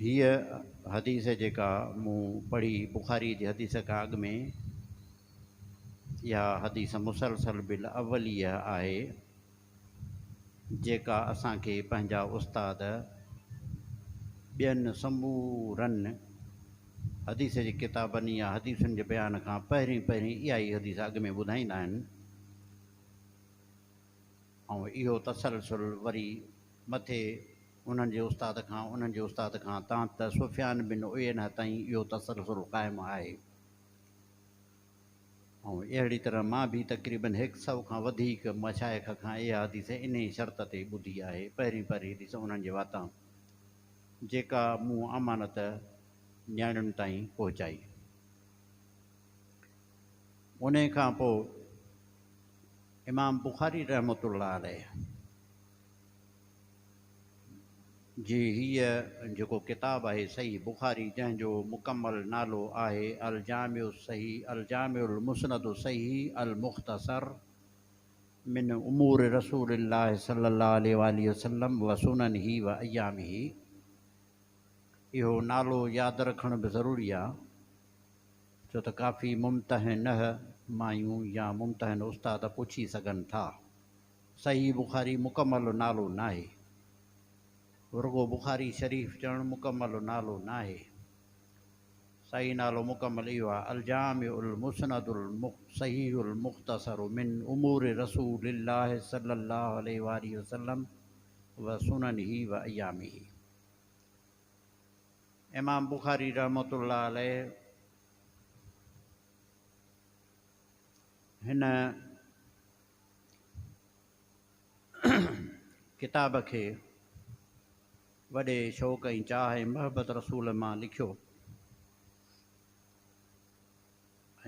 هيء حديث جيڪا مون پڙهي، بخاريء جي حديث کان اڳ ۾، اها حديث مسلسل بالاوليه آهي، جيڪا اسان کي پنهنجا استاد ٻين سمورن حديث جي ڪتابن يا حديثن جي بيان کان پهرين پهرين اهائي حديث اڳ ۾ ٻڌائيندا آهن. ۽ اهو تسلسل وري مٿي انهن جي استاد کان انهن جي استاد کان تان ته سفيان بن عيينه تائين اهو تسلسل قائم آهي ۽ اهڙي طرح مان به تقريباً هڪ سئو کان وڌيڪ مشائخ کان اها حديث انهيء شرط تي ٻڌي آهي، پهرين پهرين حديث انهن جي واتان جيڪا مون امانت نياڻين تائين پهچائي. انهيء کان پوء. امام بخاري رحمة الله عليه جي هيء جيڪو ڪتاب آهي صحيح بخاري جنهن جو مڪمل نالو آهي الجامع الصحيح الجامع المسند الصحيح المختصر من امور رسول الله صلي الله عليه واٰله وسلم وسننه وايامه اهو نالو ياد رکڻ به ضروري آهي. ڇو ته ڪافي ممتحنه مايون يا ممتحن استاد پڇي سگهن ٿا. صحيح بخاري مڪمل نالو ناهي. رڳو بخاري شريف چوڻ مڪمل نالو ناهي. صحيح نالو مڪمل اهو آهي الجامع المسند الصحيح المختصر من امور رسول الله صلي الله عليه واٰله وسلم وسننه وأيامه. امام بخاري رحمة الله عليه هن ڪتاب کي وڏي شوق ۽ چاهه ۽ محبت رسول مان لکيو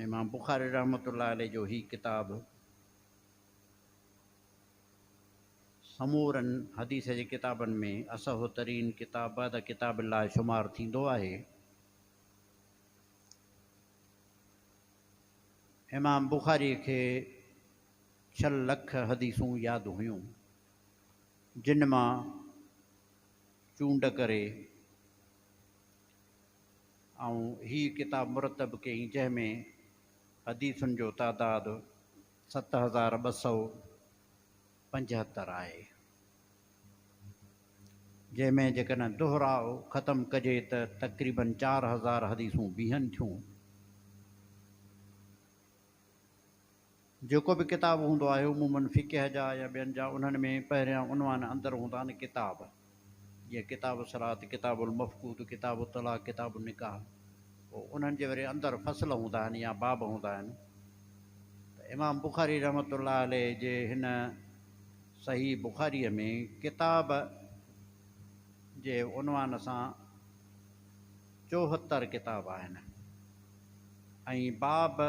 امام بخاري رحمة الله عليه جو هي ڪتاب سمورن حديث جي ڪتابن ۾ اصح ترين ڪتاب بعد ڪتاب الله شمار ٿيندو آهي. امام بخاري کي ڇهه لک حديثون ياد هيون جن مان چونڊ ڪري آئون هي ڪتاب مرتب ڪيئي جنهن ۾ حديثن جو تعداد ست هزار ٻه سؤ پنجهتر آهي، جنهن ۾ جيڪڏهن دوهراء ختم ڪجي ته تقريباً چار هزار حديثون بيهن ٿيون. جيڪو به ڪتاب هوندو آهي، عموماً فقه جا يا ٻين جا، انهن ۾ پهريان عنوان اندر هوندا آهن، ڪتاب. جيئن ڪتاب الصراط، ڪتاب المفقود، ڪتاب الطلاق، ڪتاب النڪاح پوء انهن جي وري اندر فصل هوندا آهن يا باب هوندا آهن ته امام بخاري رحمة الله عليه جي هن صحيح بخاريء ۾ ڪتاب جي عنوان سان چوهتر ڪتاب آهن ۽ باب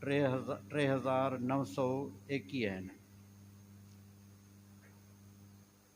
ٽي هزار نو سؤ ايڪيهه آهن.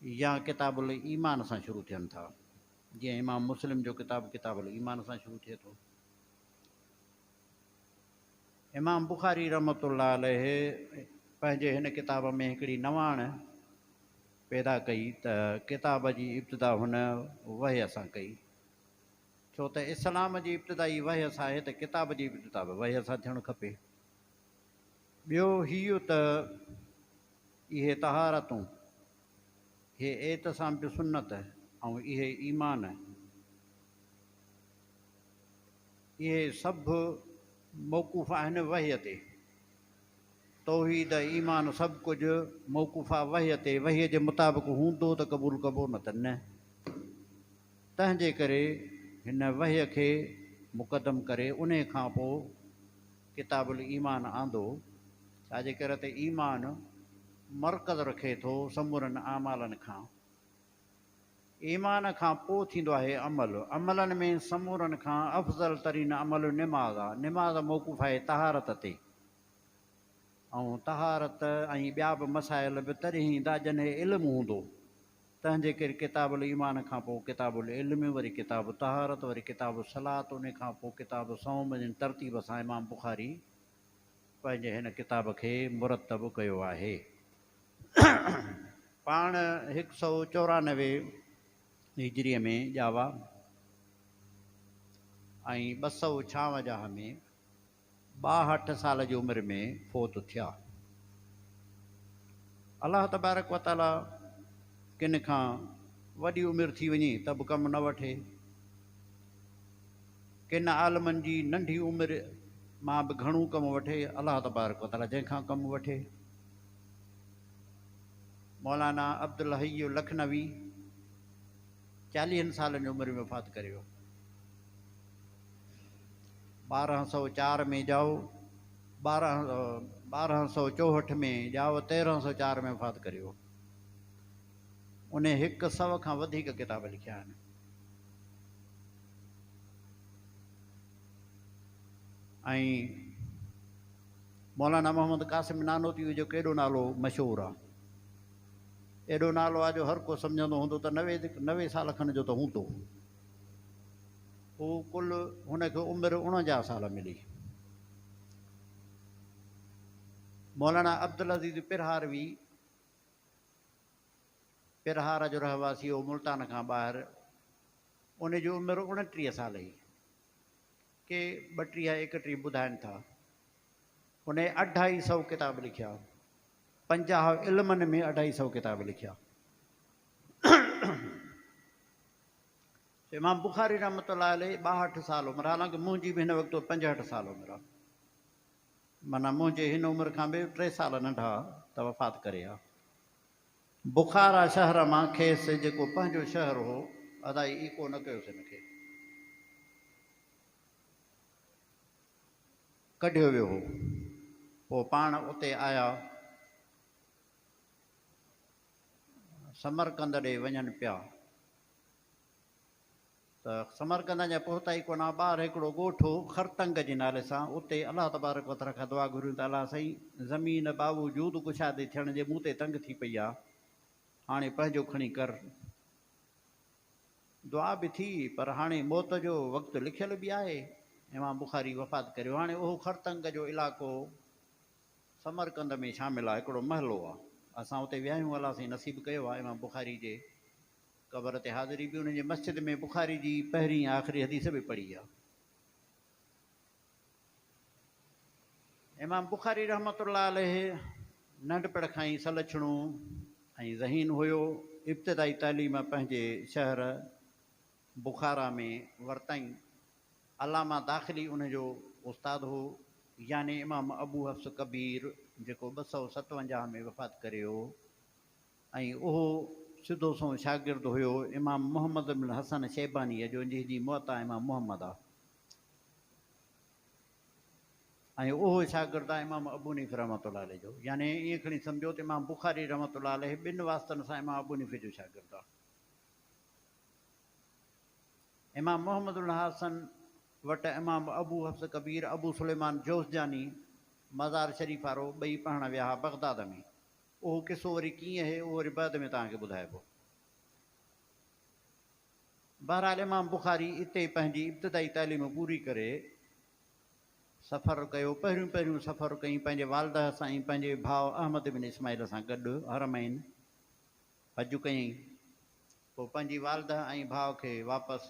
يا ڪتاب الايمان سان شروع ٿين ٿا، جيئن امام مسلم جو ڪتاب ڪتاب الايمان سان شروع ٿئي ٿو. امام بخاري رحمت الله عليه پنهنجي هن ڪتاب ۾ هڪڙي نواڻ پيدا ڪئي ته ڪتاب جي ابتدا هن وحي سان ڪئي، ڇو ته اسلام جي ابتدا ئي وحي سان آهي ته ڪتاب جي ابتدا به وحي سان ٿيڻ کپي. ٻيو هيء ته اهي طهارتون، هي اعتصام بسنت ۽ اهي ايمان، اهي سڀ موقوف آهن وحي تي. توحيد، ايمان سڀ ڪجهه موقوف آ وحي تي، وحي جي مطابق هوندو ته قبول ڪبو نه ته نه. تنهن جي ڪري هن وحي کي مقدم ڪري انهي کان پوء، ڪتاب الايمان آندو، ڇاجي ڪر ته ايمان مرڪز رکي ٿو سمورن اعمالن کان. ايمان کان پوء ٿيندو آهي عمل، عملن ۾ سمورن کان افضل ترين عمل نماز آ، نماز موقوف آهي طهارت تي، ۽ طهارت ۽ ٻيا به مسائل به تڏهن ايندا جڏهن علم هوندو. تنهنجي ڪري ڪتاب الايمان کان پوء ڪتاب العلم وري ڪتاب الطهارت وري ڪتاب الصلات انهي کان پوء ڪتاب الصوم جن ترتيب سان امام بخاري پنهنجي هن ڪتاب کي مرتب ڪيو آهي پاڻ هڪ سؤ چورانوي هجري ۾ ڄاوا ۽ ٻه سؤ ڇاونجاهه ۾ ٻاهٺ سال جي عمر ۾ فوت ٿيا. الله تبارڪ و تعاليٰ ڪن کان وڏي عمر ٿي وڃي ته به ڪم نه وٺي. ڪن عالمن جي ننڍي عمر مان به گهڻو ڪم وٺي الله تبارڪ و تعاليٰ جنهن کان ڪم وٺي. مولانا عبدالحي لکنوي چاليهن سالن جي عمر ۾ وفات ڪري ويو. ٻارهن سؤ چار ۾ ڄائو ٻارهن سؤ چوهٺ ۾ ڄائو تيرهن سؤ چار ۾ وفات ڪريو انهي هڪ سو کان وڌيڪ ڪتاب لکيا آهن ۽ مولانا محمد قاسم نانوتي جو ڪيڏو نالو مشهور آهي ايڏو نالو آهي جو هر ڪو سمجهندو هوندو ته نوي نوي سال کن جو ته هوندو هو ڪل هن کي عمر اڻونجاهه سال ملي. مولانا عبدالعزيز پرهاروي پرهار جو رهواسي هو ملتان کان ٻاهر ان جي عمر اڻٽيهه سال هئي ڪي ٻٽيهه ايڪٽيهه ٻڌائن ٿا ان اڍائي سو ڪتاب لکيا پنجاهه علمن ۾ اڍائي سو ڪتاب لکيا امام بخاري رحمة الله عليه ٻاهٺ سال عمر حالانڪه منهنجي به هن وقت پنجهٺ سال عمر آ معنيٰ منهنجي هن عمر کان به ٽي سال ننڍا ته وفات ڪري ويا بخارا شهر مان کيس جيڪو پنهنجو شهر هو ادائي ايڪو نه ڪيوس هن کي ڪڍيو ويو هو پوء پاڻ اتي آيا. سمرقند ڏي وڃن پيا ته سمرقند اڃا پهتا ئي ڪونه ٻاهر هڪڙو ڳوٺ هو خرتنگ جي نالي سان اتي الله تبارڪ وتعالي کان دعا گهريون ته الله سائين زمين باوجود ڪشادي ٿيڻ جي مون تي تنگ ٿي پئي آهي هاڻي پنهنجو کڻي ڪر دعا به ٿي پر هاڻي موت جو وقت لکيل به آهي امام بخاري وفات ڪريو هاڻي اهو خرتنگ جو علائقو سمرقند ۾ شامل آ هڪڙو محلو آ اسان اتي ويا آهيون الله سائين نصيب ڪيو آ امام بخاري جي قبر تي حاضري به انهن جي مسجد ۾ بخاري جي پهرين ۽ آخري حديث به پڙهي آ امام بخاري رحمة الله عليه ننڍپڻ کان ئي سلڇڻو ۽ ذهين هيو ابتدائي تعليم پنهنجي شهر بخارا ۾ ورتائين. علامه داخلي ان جو استاد هو، يعني امام ابو حفص ڪبير جيڪو ٻه سؤ ستونجاهه ۾ وفات ڪري ويو ۽ اهو سڌو سنئون شاگرد هيو امام محمد بن الحسن شيبانيء جو جنهن جي موطا امام محمد آ ۽ اهو شاگرد آ امام ابونيف رحمة الله عليه جو يعني ائين کڻي سمجهو ته امام بخاري رحمة الله عليه ٻن واسطن سان امام ابونيف جو شاگرد آ. امام محمد الحسن وٽ امام ابو حفص ڪبير ابو سليمان جوزجاني مزار شريف وارو ٻئي پڙهڻ ويا ها بغداد ۾. اهو قصو وري ڪيئن اهي اهو وري بعد ۾ توهان کي ٻڌائبو. بهرحال امام بخاري اتي پنهنجي ابتدائي تعليم پوري ڪري سفر ڪيو پهريون پهريون سفر ڪئين پنهنجي والده سان ۽ پنهنجي ڀاء احمد بن اسماعيل سان گڏ حرمين حج ڪيائين، پوء پنهنجي والده ۽ ڀاء کي واپس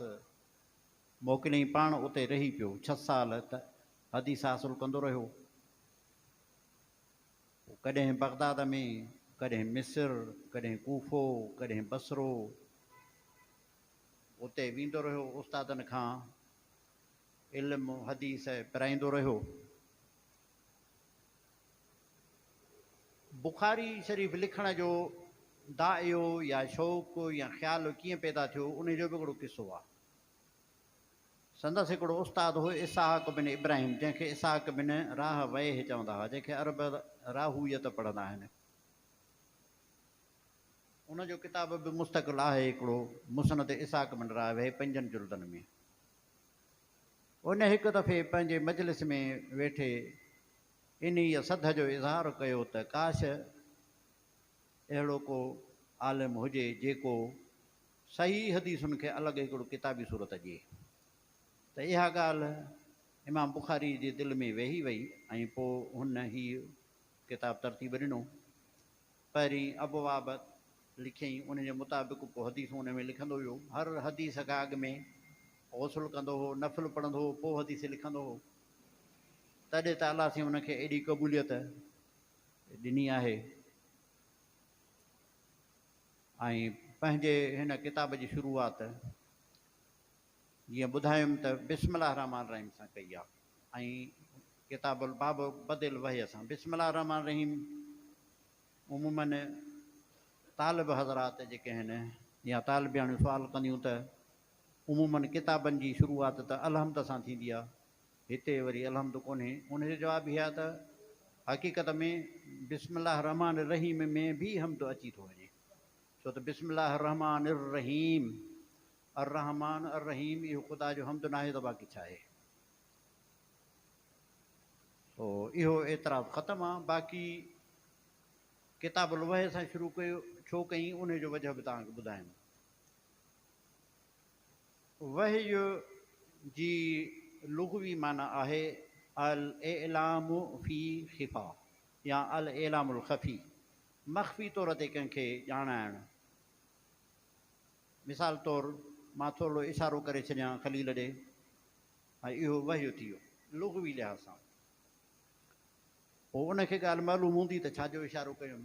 موڪليائين، پاڻ اتي رهي پيو، ڇهه سال حديث حاصل ڪندو رهيو، پوء ڪڏهن بغداد ۾، ڪڏهن مصر، ڪڏهن ڪوفو، ڪڏهن بصرو، اتي ويندو رهيو، استادن کان علم حديث پرائيندو رهيو. بخاري شريف لکڻ جو دائيو يا شوق يا خيال ڪيئن پيدا ٿيو انهي جو به هڪڙو قصو آهي. سندس هڪڙو استاد هو اسحاق بن ابراهيم جنهن کي اسحاق بن راهه ويه چوندا هئا جنهن کي عرب راهويت پڙهندا آهن. ان جو ڪتاب به مستقل آهي هڪڙو مسند اسحاق بن راهه ويه پنجن جلدن ۾. ان هڪ دفعي پنهنجي مجلس ۾ ويٺي انهيء سڌ جو اظهار ڪيو ته ڪاش اهڙو ڪو عالم هجي جيڪو صحيح حديثن کي الڳ هڪڙو ڪتابي صورت ڏئي ته اها ڳالهه امام بخاري جي دل ۾ ويهي وئي ۽ پوء هن هيء ڪتاب ترتيب ڏنو پهرين ابواب لکيائين ان جي مطابق پوء حديثون ان ۾ لکندو ويو هر حديث کان اڳ ۾ غسل ڪندو هو نفل پڙهندو هو پوء حديث لکندو هو. تڏهن ته الله سائين ان کي ايڏي قبوليت ڏني آهي ۽ پنهنجي هن ڪتاب جي شروعات جيئن ٻڌايم ته بسم الله الرحمٰن الرحيم سان ڪئي آهي ۽ ڪتاب الباب بدي الوحي سان بسم الله الرحمٰن الرحيم عموماً طالب حضرات جيڪي آهن يا طالبياڻيون سوال ڪنديون ته عمومن ڪتابن جي شروعات ته الحمد سان ٿيندي آهي، هتي وري الحمد ڪونهي، ان جو جواب هي آهي ته حقيقت ۾ بسم الله الرحمٰن الرحيم ۾ به حمد اچي ٿو وڃي، ڇو ته بسم الله الرحمٰن الرحيم، الرحمٰن الرحيم اهو خدا جو حمد ناهي ته باقي ڇا آهي؟ سو اهو اعتراض ختم آهي، باقي ڪتاب الوحي سان شروع ڪيو ڇو ڪيئي، ان جو وجهه به توهان کي ٻڌايم. وحي جي لغوي معنيٰ آهي الاعلام في خفا يا الاعلام الخفي، مخفي طور تي ڪنهن کي ڄاڻائڻ. مثال طور، مان ٿورڙو اشارو ڪري ڇڏيان خليل ڏي، ۽ اهو وحي ٿي ويو، لغوي لحاظ سان. پوء ان کي ڳالهه معلوم هوندي ته ڇا جو اشارو ڪيم.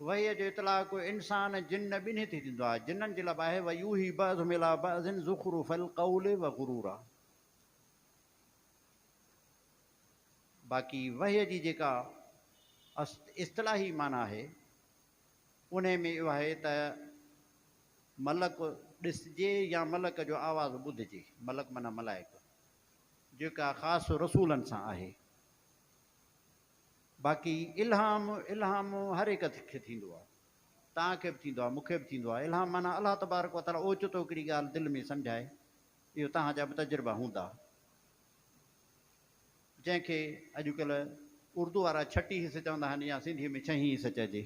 وحيء جو اطلاق انسان جن ٻنهي تي ٿيندو آهي، جنن جي لب آهي ويوحي بعضهم الي بعض زخرف القول وغرورا. باقي وحيء جي جيڪا اصطلاحي معنيٰ آهي انهي ۾ اهو آهي ته ملڪ ڏسجي يا ملڪ جو آواز ٻڌجي، ملڪ معنيٰ ملائڪ، جيڪا خاص رسولن سان آهي. باقي الھام، الھام ھر ھڪ کي ٿيندو آ. توھان کي به ٿيندو آ، مون کي به ٿيندو آ. الھام معنيٰ الله تبارڪ و تعاليٰ اوچتو ھڪڙي ڳالھ دل ۾ سمجھائي. اھو توھان جا به تجربا ھوندا. جنھن کي اڄڪلھ اردو وارا ڇٽي حص چوندا آھن يا سنڌيء ۾ ڇھين حص چئجي.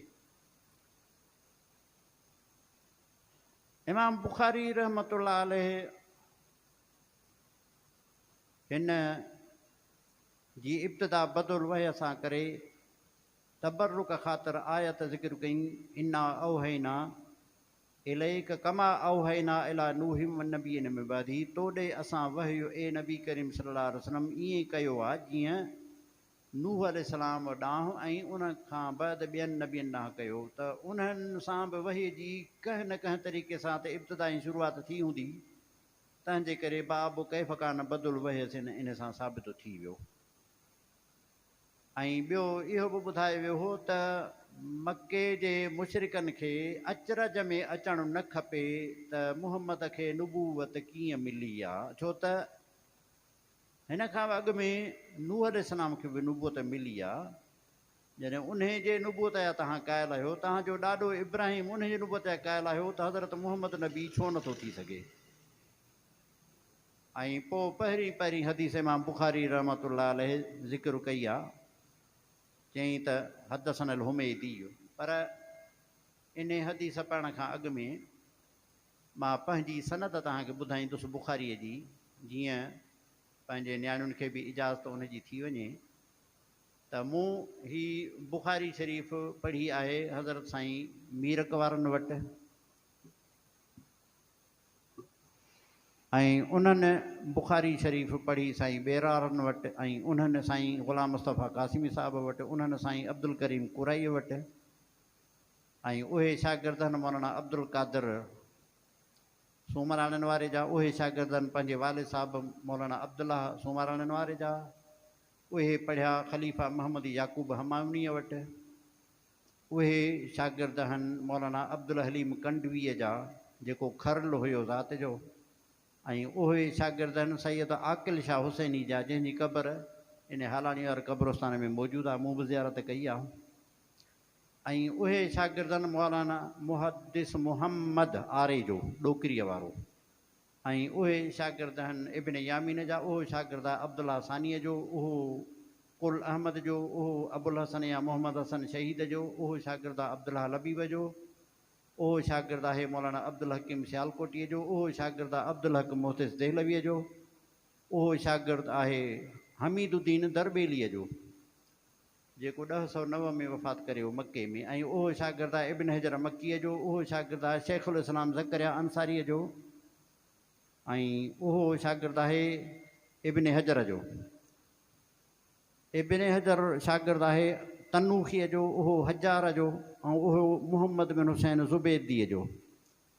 امام بخاري رحمة الله عليه ھن. جي ابتدا بد الوحي سان ڪري تبرڪ خاطر آيت ذڪر ڪئي، انا اوحينا اليک ڪما اوحينا الي نوح والنبين من بعده تو ڏي اسان وحي اي نبي ڪريم صلي الله عليه وسلم ائين ڪيو آ جيئن نوح عليه السلام ڏانهن ۽ ان کان بعد ٻين نبين ڏانهن ڪيو ته انهن سان به وحي جي ڪنهن نه ڪنهن طريقي سان ته ابتدا ۽ شروعات ٿي هوندي تنهنجي ڪري باب ڪيف ڪان بد الوحيس ان ان سان ثابت ٿي ويو ۽ ٻيو اهو به ٻڌايو ويو هو ته مڪي جي مشرڪن کي اچرج ۾ اچڻ نه کپي ته محمد کي نبوت ڪيئن ملي آ ڇو ته هن کان به اڳ ۾ نوح عليه السلام کي به نبوت ملي آ جڏهن انهيء جي نبوت جا توهان قائل آهيو، توهان جو ڏاڏو ابراهيم انهيء جي نبوت جا قائل آهيو ته حضرت محمد نبي ڇو نه ٿو ٿي سگهي؟ ۽ پوء پهرين پهرين حديث امام بخاري رحمة الله عليه ذڪر ڪئي آهي، چيائين ته، حدثنا الحميدي، پر انهيء حديث پڙهڻ کان اڳ ۾ مان پنهنجي سند توهان کي ٻڌائيندس بخاريء جي، جيئن پنهنجي نياڻين کي به اجازت ان جي ٿي وڃي. ته مون هي بخاري شريف پڙهي آهي حضرت سائين ميرڪ وارن وٽ ۽ انهن بخاري شريف پڙهي سائين ٻيرارن وٽ ۽ انهن سائين غلام مصطفيٰ قاسمي صاحب وٽ انهن سائين عبدالڪريم ڪورائي وٽ ۽ اهي شاگردن مولانا عبدالقادر سومراڻين واري جا اهي شاگردن پنهنجي والد صاحب مولانا عبدالله سومراڻين واري جا اهي پڙهيا خليفه محمد يعقوب همايونيء وٽ. اهي شاگرد هن مولانا عبدالحليم ڪنڊويء جا، جيڪو کرل هيو ذات جو، ۽ اهي شاگرد هن سيد عاقل شاهه حسيني جا، جنهن جي قبر ان هالاڻي واري قبرستان ۾ موجود آهي، مون به زيارت ڪئي آهي. ۽ اهي شاگرد هن مولانا محدث محمد آري جو، ڏوڪريء وارو. ۽ اهي شاگرد هن، ابن يامين جا، اهو شاگرد آ عبدالله ثانيء جو، اهو قل احمد جو، اهو ابوالحسن يا محمد حسن شهيد جو، اهو شاگرد آ عبدالله لبيب جو، اهو شاگرد آهي مولانا عبدالحڪيم سيالڪوٽيء جو، اهو شاگرد آ عبدالحق محدث دهلويء جو، اهو شاگرد آهي حميد الدين درٻيليء جو. جيڪو ڏهه سؤ نو ۾ وفات ڪري ويو مڪي ۾ ۽ اهو شاگرد آهي ابن حجر مڪيء جو، اهو شاگرد آهي شيخ الاسلام زڪريا انصاريء جو ۽ اهو شاگرد آهي ابن حجر جو. ابن حجر شاگرد آهي تنوخيء جو، اهو حجاره جو ۽ اهو محمد بن حسين زبيديء جو.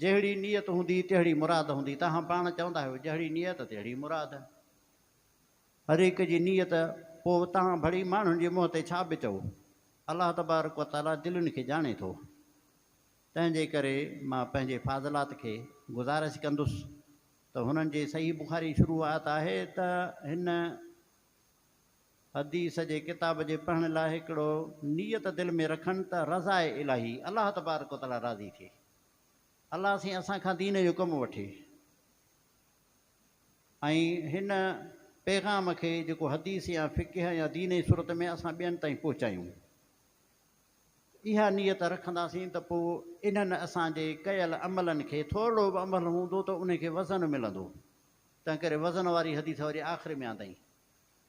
جهڙي نيت هوندي تهڙي مراد هوندي، توهان پاڻ چوندا آهيو جهڙي نيت تهڙي مراد. هر هڪ جي نيت پوء توهان ڀڙي ماڻهن جي منهن تي ڇا به چئو. الله تبارڪ و تعاليٰ دلين کي ڄاڻي ٿو. تنهن جي ڪري مان پنهنجي فاضلات کي گذارش ڪندس ته هنن جي صحيح بخاري شروع آيت آهي ته هن حديث جي ڪتاب جي پڙهڻ لاء هڪڙو نيت دل ۾ رکن ته رضاء الاهي، الله تبارڪ و تعالي راضي ٿئي، الله سائين اسان کان دين جو ڪم وٺي ۽ هن پيغام کي جيڪو حديث يا فقه يا دين جي صورت ۾ اسان ٻين تائين پهچايون. اها نيت رکنداسين ته پوء انهن اسان جي ڪيل عملن کي ٿورڙو به عمل هوندو ته ان کي وزن ملندو. تنهنڪري وزن واري حديث وري آخر ۾ آندائين،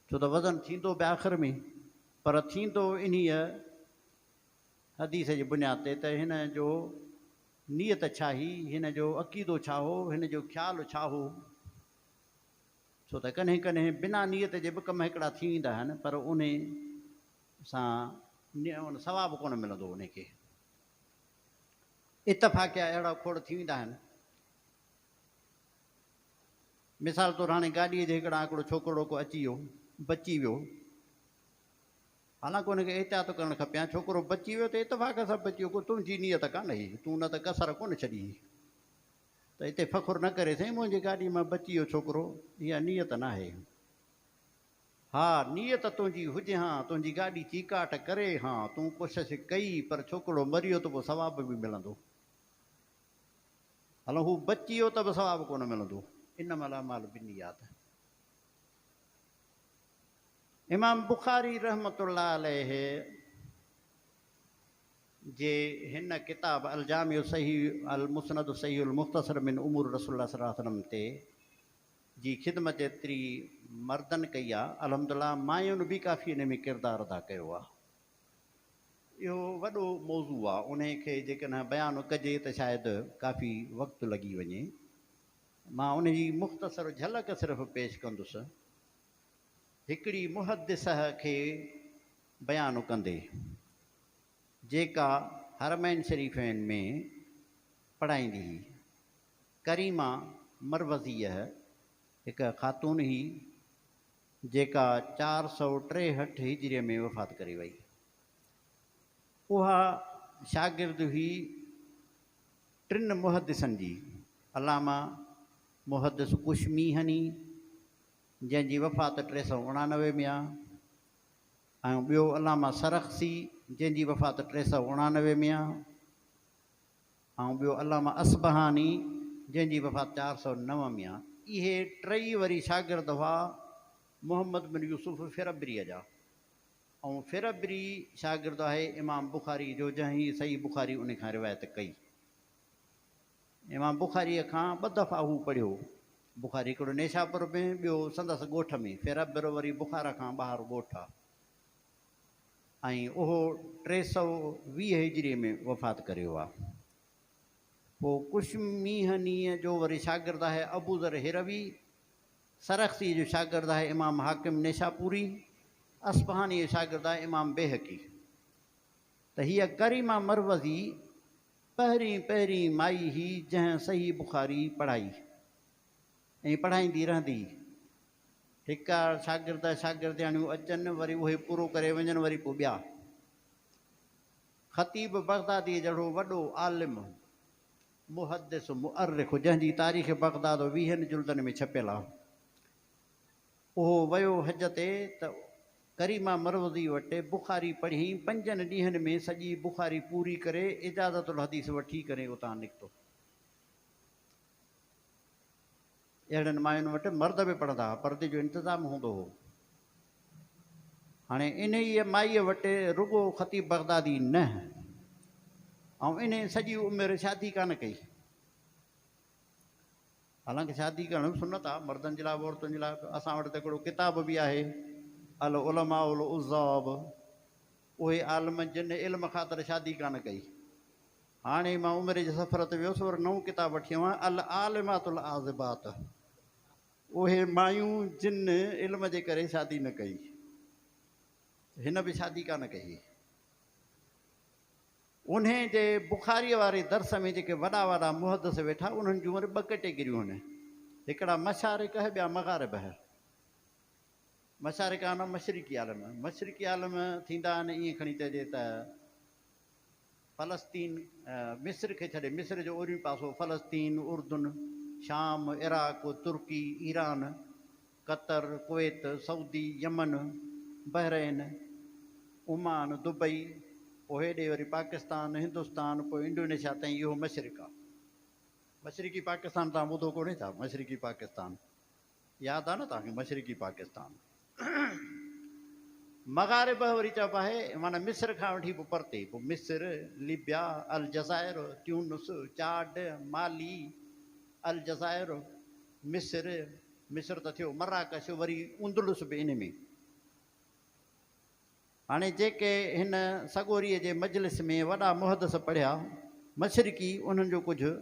ڇو ته وزن ٿيندو به آخر ۾ پر ٿيندو انهيء حديث جي بنياد تي ته هن جو نيت ڇا هئي، هن جو عقيدو ڇا هو، هن جو خيال ڇا هو، ڇو ته ڪڏهن ڪڏهن بنا نيت جي به ڪم هڪڙا ٿي ويندا آهن پر انهي سان ثواب ڪونه ملندو انهي کي. اتفاقيا اهڙا کوڙ ٿي ويندا آهن. مثال طور هاڻي گاڏيء جي هڪڙان هڪڙو ڇوڪرڙو ڪو اچي ويو، بچي ويو. حالانڪ ان کي احتياط ڪرڻ کپي ها، ڇوڪرو بچي ويو ته اتفاق سان بچي ويو، ڪو تنهنجي نيت ڪانه هئي، تون نه ته ڪسر ڪونه ڇڏي هئي. ته اتي فخر نه ڪري سائين منهنجي گاڏيء مان بچي ويو ڇوڪرو، اها نيت ناهي. ها نيت تنهنجي هجي ها، تنهنجي گاڏي چيڪاٽ ڪري ها، تون ڪوشش ڪئي، پر ڇوڪرڙو مريو ته پوء ثواب به ملندو. هلو هو بچي ويو ته به ثواب ڪونه ملندو انما الاعمال بالنيات امام بخاري رحمت الله عليه جي هن ڪتاب الجامع صحيح المسند صحيح المختصر من امور رسول الله صلي الله عليه وسلم تي جي خدمت ايتري مردن ڪئي آ الحمدلله ماين به ڪافي انهي ۾ ڪردار ادا ڪيو آ اهو وڏو موضوع آ، انهي کي جيڪڏهن بيان ڪجي ته شايد ڪافي وقت لڳي وڃي. مان انهي جي مختصر جهلڪ صرف پيش ڪندس. هڪڙي محدثه کي بيان ڪندي، جيڪا حرمين شريفين ۾ پڙهائيندي هئي، ڪريمه مروزيه هڪ خاتون هئي، جيڪا چار سؤ ٽيهٺ هجري ۾ وفات ڪري وئي. اها شاگرد هئي ٽن محدثن جي، علامه محدث اشميهني، جنهن جي وفات ٽي سؤ اڻانوي ۾ آهي ۽ ٻيو علامه سرخسي، جنهن جي وفات ٽي سؤ اڻانوي ۾ آهي. ۽ ٻيو علامه اصبهاني جنهن جي وفات چار سؤ نو ۾ آهي. اهي ٽئي وري شاگرد هئا محمد بن يوسف فربريء جا ۽ فربري شاگرد آهي امام بخاري جو جنهن هي صحيح بخاري انهي کان روايت ڪئي. امام بخاريء کان ٻه دفعا هو پڙهيو. بخاري هڪڙو نيشاپور ۾ ٻيو سندس ڳوٺ ۾، فربر وري بخارا کان ٻاهر ڳوٺ آهي. ۽ اهو ٽي سؤ ويهه هجريء ۾ وفات ڪريو آ. پوء ڪشميهنيء جو وري شاگرد آهي ابوذر هروي، سرخسيء جو شاگرد آهي امام حاڪم نيشاپوري، اصفهانيء جو شاگرد آهي امام بيهقي. ته هيء ڪريمه مروزي پهرين پهرين مائي هئي جنهن صحيح بخاري پڙهائي. ائين پڙهائيندي رهندي. هڪ آڙ شاگرد ۽ شاگردياڻيون اچن، وري اهي پورو ڪري وڃن، وري پوء ٻيا. خطيب بغداديء جهڙو وڏو عالم، محدث، مؤرخ، جنهن جي تاريخ بغداد ويهن جلدن ۾ ڇپيل آهي، اهو ويو حج تي ته ڪريمه مروزيء وٽ بخاري پڙهي، پنجن ڏينهن ۾ سڄي بخاري پوري ڪري، اجازة الحديث وٺي ڪري اتان نڪتو. اهڙن ماين وٽ مرد به پڙهندا هئا. پردي جو انتظام هوندو هو. هاڻي انهيء مائيء وٽ رڳو خطيب بغدادي نه ۽ انهيء سڄي عمر شادي ڪانه ڪئي. حالانڪه شادي ڪرڻ سنت آهي، مردن جي لاء به عورتن جي لاء به. اسان وٽ ته هڪڙو ڪتاب به آهي، العلماء العذاب، اهي عالم جن علم خاطر شادي ڪانه ڪئي. هاڻي مان عمري جي سفر تي ويس ور نئون ڪتاب وٺي آيو آهيان العالمات العاذبات اهي مايون جن علم جي ڪري شادي نه ڪئي هن به شادي ڪانه ڪئي انهي جي بخاري واري درس ۾ جيڪي وڏا وڏا محدث ويٺا انهن جون وري ٻه ڪيٽيگريون آهن هڪڙا مشارق هي ٻيا مغارب هي مشارق آهن مشرقي عالم مشرقي عالم ٿيندا آهن ائين کڻي چئجي ته فلسطين، مصر کي ڇڏي، مصر جو اوريون پاسو، فلسطين، اردن، شام، عراق، ترڪي، Iran, Qatar, Kuwait, Saudi, Yemen, Bahrain, Oman, Dubai, پوء هيڏي وري پاڪستان، هندستان، پوء انڊونيشيا تائين اهو مشرق آ. مشرقي پاڪستان توهان ٻڌو ڪونهي ڇا؟ مشرقي پاڪستان. ياد آ نه توهان کي مشرقي پاڪستان مغاربه وري چئبو آهي معنيٰ مصر کان وٺي به پرتي پوء مصر، ليبيا، الجزائر، تيونس، چاڊ، مالي، الجزائر، مصر، مصر ته ٿيو، مراڪش وري اندلس به انهي ۾. هاڻي جيڪي هن سڳوريء جي مجلس ۾ وڏا محدث پڙهيا مشرقي انهن جو ڪجهه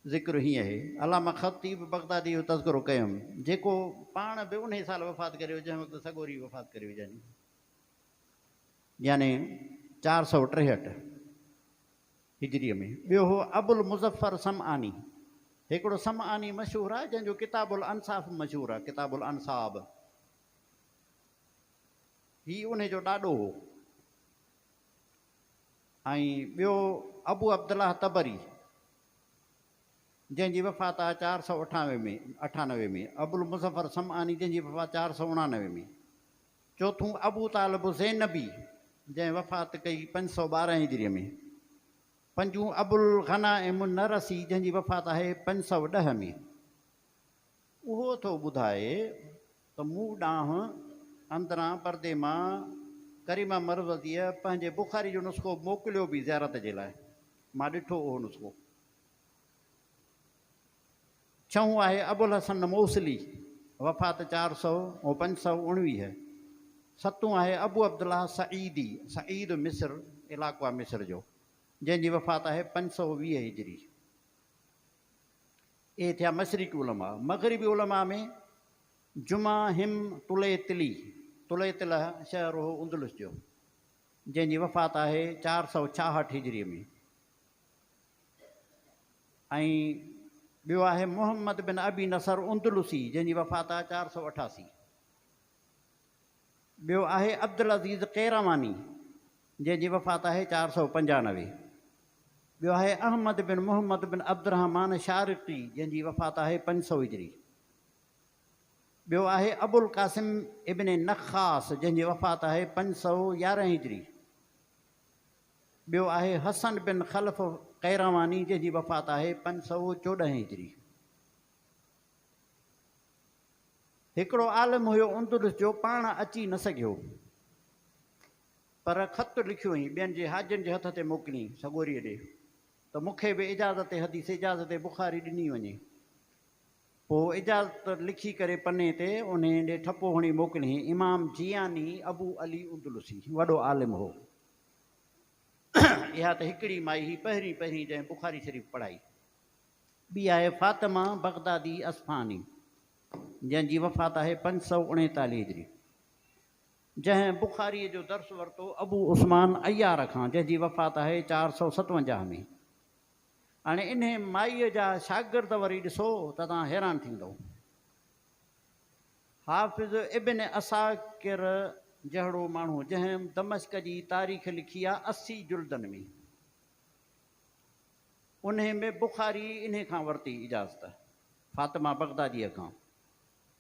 ذڪر هيئن اهي علامه خطيب بغداديء جو تذڪرو ڪيم، جيڪو پاڻ به انهيء سال وفات ڪري ويو، جنهن وقت سڳوري وفات ڪري ويو، يعني چار سؤ ٽيهٺ هجريء ۾. ٻيو هو ابوالمظفر سمعاني، هڪڙو سمعاني مشهور آهي، جنهن جو ڪتاب الانصاف به مشهور آهي، ڪتاب الانصاب. هي انهيء جو ڏاڏو هو. ۽ ٻيو ابو عبدالله طبري جنهن جي وفات آهي چار سؤ اٺانوي ۾ اٺانوي ۾ ابوالمظفر سمعاني جنهن جي وفات چار سؤ اڻانوي ۾ چوٿون ابو طالب زينبي جنهن وفات ڪئي پنج سؤ ٻارهن هجري ۾ پنجون ابوالغنائم النرسي جنهن جي وفات آهي پنج سؤ ڏهه ۾. اهو ٿو ٻڌائي ته مون ڏانهن اندران پردي مان ڪريمه مروزيء پنهنجي بخاري جو نسخو موڪليو به زيارت جي لاء. مان ڏٺو اهو نسخو. ڇهون آهي ابوالحسن موصلي، وفات چار سؤ ۽ پنج سؤ اڻويهه. ستون آهي ابوعبدالله سعيدي، سعيد مصر، علائقو آهي مصر جو، جنهن جي وفات آهي پنج سؤ ويهه هجري. اهي ٿيا مشرقي علماء. مغربي علماء ۾ جمعه هم طليطلي، طليطله شهر هو اندلس جو، جنهن جي وفات آهي چار سؤ ڇاهٺ هجري ۾، ۽ ٻيو آهي محمد بن ابي نصر اندلسي، جنهن جي وفات آهي چار سؤ اٺاسي. ٻيو آهي عبدالعزيز قيرواني جنهن جي وفات آهي چار سؤ پنجانوي. ٻيو آهي احمد بن محمد بن عبدالرحمان شارقي جنهن جي وفات آهي پنج سؤ هجري. ٻيو آهي ابوالقاسم ابن نخاس جنهن جي وفات آهي پنج سؤ يارهن هجري. ٻيو آهي حسن بن خلف قيرواني جنهن جي وفات آهي پنج سؤ چوڏهن هجري. هڪڙو عالم هيو اندلس جو پاڻ اچي نه سگهيو پر خط لکيو هئين ٻين جي حاجين جي هٿ تي موڪلين سڳوريء ڏي ته مون کي به اجازت حديث اجازت بخاري ڏني وڃي پوء اجازت لکي ڪري پني تي انهي ڏي ٺپو هڻي موڪليين امام جياني ابو علي اندلسي وڏو عالم هو اها ته هڪڙي مائي هئي پهرين پهرين جنهن بخاري شريف پڙهائي ٻي آهي فاطمه بغدادي اصفهاني جنهن جي وفات آهي پنج سؤ اڻيتاليهه هجري جنهن بخاريء جو درس ورتو ابو عثمان عيار کان جنهن جي وفات آهي چار سؤ ستونجاهه ۾ هاڻي انهي مائيء جا شاگرد وري ڏسو ته توهان حيران ٿيندؤ حافظ ابن عساڪر جهڙو ماڻهو جنهن دمشق جي تاريخ لکي آهي اسي جلدن ۾. انهيء ۾ بخاري انهيء کان ورتي اجازت، فاطمه بغداديء کان.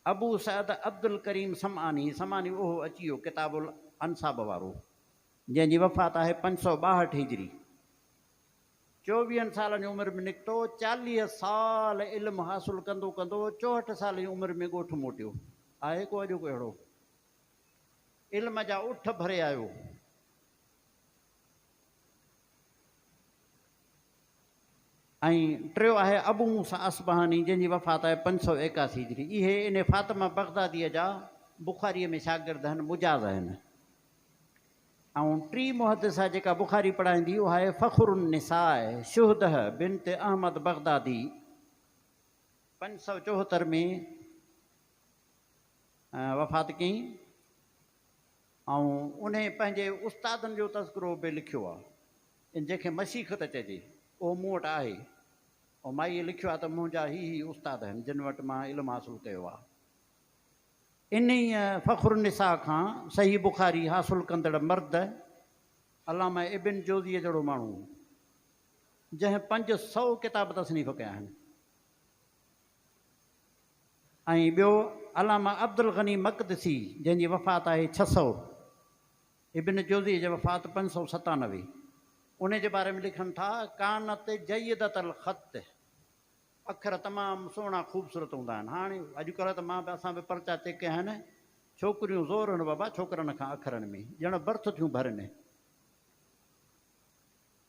ابو سعد عبدالڪريم سمعاني، سمعاني اهو اچي ويو ڪتاب الانساب وارو، جنهن جي وفات آهي پنج سؤ ٻاهٺ هجري. چوويهن سالن جي عمر ۾ نڪتو، چاليهه سال علم حاصل ڪندو ڪندو چوهٺ سال جي عمر ۾ ڳوٺ موٽيو. آهي ڪو اڄوڪو اهڙو؟ علم جا اٺ ڀري آيو. ۽ ٽيون آهي ابو موسيٰ اصبهاني جنهن جي وفات آهي پنج سؤ ايڪاسي هجري اهي ان فاطمه بغداديء جا بخاريء ۾ شاگرد آهن مجاز آهن ۽ ٽي محدثه جيڪا بخاري پڙهائيندي اها آهي فخر النساء شهده بنت احمد بغدادي پنج سؤ چوهتر ۾ وفات ڪئين آئون انهي پنهنجي استادن جو تذڪرو به لکيو آ ان جنهن کي مسيخ ته چئجي اهو مون وٽ آهي ۽ مائيء لکيو آ ته منهنجا هي هي استاد هن جن وٽ مان علم حاصل ڪيو آ. انهي فخر النساء کان صحيح بخاري حاصل ڪندڙ مرد علامه ابن جوزيء جهڙو ماڻهو جنهن پنج سؤ ڪتاب تصنيف ڪيا آهن ۽ ٻيو علامه عبدالغني مقدسي جنهن جي وفات آهي ڇهه سؤ، ابن جوزيء جي وفات پنج سؤ ستانوي، انهيء جي باري ۾ لکن ٿا، ڪانت جيدة الخط، اکر تمام سهڻا خوبصورت هوندا آهن. هاڻ اڄڪلهه ته مان به اسان به پرچا چيڪ ڪيا آهن، ڇوڪريون زور هڻ بابا ڇوڪرن کان اکرن ۾، ڄڻ برٿ ٿيون ڀرين.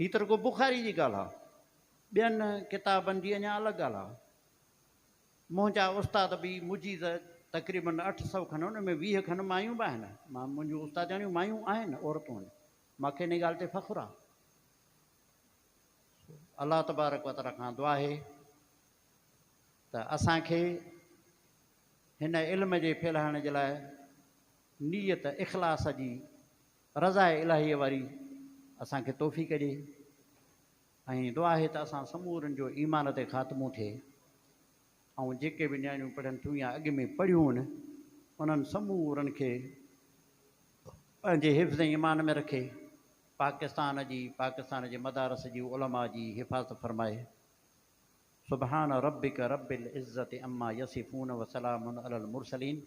هي ته رڳو بخاري جي ڳالهه آ، ٻين ڪتابن جي اڃا الڳ ڳالهه آ. منهنجا استاد به مجيز تقريباً اٺ سؤ کن، ان ۾ ويهه کن مايون به آهن. مان منهنجون استادياڻيون مايون آهن، عورتون آهن. مان کي ان ڳالهه تي فخر آ. سو الله تبارڪ و تعاليٰ کان دعا آهي ته اسان کي هن علم جي ڦهلائڻ جي لاء نيت اخلاص جي رضاء الاهيء واري اسان کي توفيق ڏي ۽ دعا آهي ته اسان سمورن جو ايمان تي خاتمو ٿئي ۽ جيڪي به نياڻيون پڙهن ٿيون يا اڳ ۾ پڙهيون انهن سمورن کي پنهنجي حفظ ۽ امان ۾ رکي پاڪستان جي پاڪستان جي مدارس جي علماء جي حفاظت فرمائي سبحان ربک رب العزت عما يصفون وسلام علي المرسلين